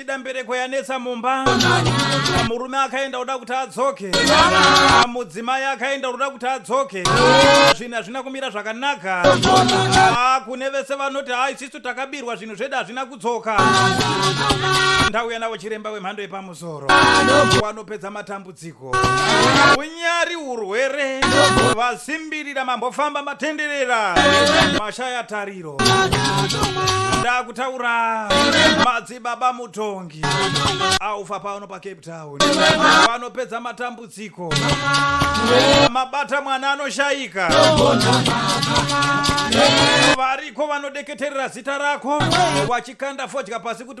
ida mbereko yanetsa mumba murume akaenda kuda kuti adzoke mudzimai akaenda kuda kuti adzoke zvinhu hazvina kumira zvakanaka Ah, kune vese vanoti ha isisu takabirwa zvinhu zvedu hazvina kudzoka ndauya navo chiremba wemhando yepamusoro wanopedza matambudziko dziko unyari urwere vasimbirira mambofamba matenderera mashaya tariro ndakutaura madzibaba mutongi aufa pano pacape town vanopedza matambudziko mabata mwana anoshaika variko vanodeketerera zita rako wachikanda fodya pasi kuti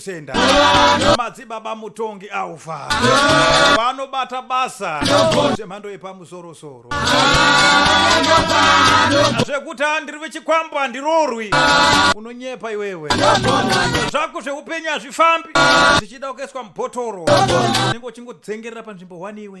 senda madzibaba mutongi aufa vanobata basa zvemhando yepamusorosoro zvekuti handiri vechikwambo handirorwi unonyepa iwewe zvako zveupenyu hazvifambi zvichida kukaiswa mubhotoro unenge uchingodzengerera panzvimbo wani iwe